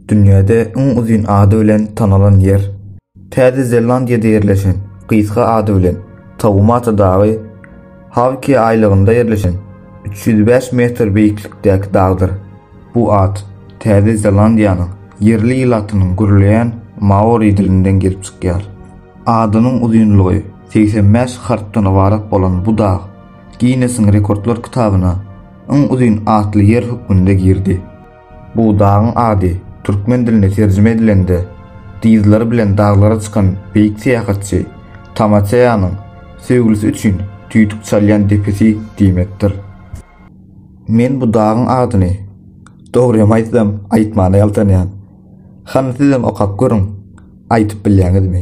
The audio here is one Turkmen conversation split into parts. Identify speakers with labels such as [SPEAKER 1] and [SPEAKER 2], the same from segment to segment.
[SPEAKER 1] Dünýäde iň uzyn ady bilen tanalan ýer. Täze Zelandiýada ýerleşen, gysga ady bilen, Taumata dagy, Hawke aýlagynda ýerleşen, üç ýüz bäş metr beýiklikdäki dagdyr. Bu at Täze Zelandiýanyň ýerli ilatynyň gürleýän maori dilinden gelip çykýar. Adynyň uzynlygy segsen bäş harpdan ybarat bolan bu dag Ginnesiň rekordlar kitabyna Iň uzyn atly ýer hökmünde girdi. Bu dagyň ady türkmen diline terjime edilende dyzlary bilen daglara çykan beýik syýahatçy Tamaçeýanyň söýgülisi üçin tüýdük çalýan depesi diýmekdir. Men bu dagyň adyny, dogrymy aýtsam, aýtmana ýaltanýan. Hany sizem okap görüň, aýtyp bilýäňizmi?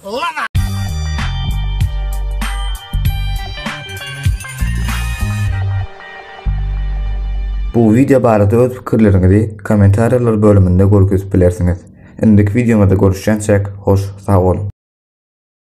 [SPEAKER 1] Ýa. Bu wideo barada öz pikirleriňizi kommentariýalar bölüminde görkezip bilersiňiz. Indiki wideomyzda görüşýänçäk hoş sag boluň.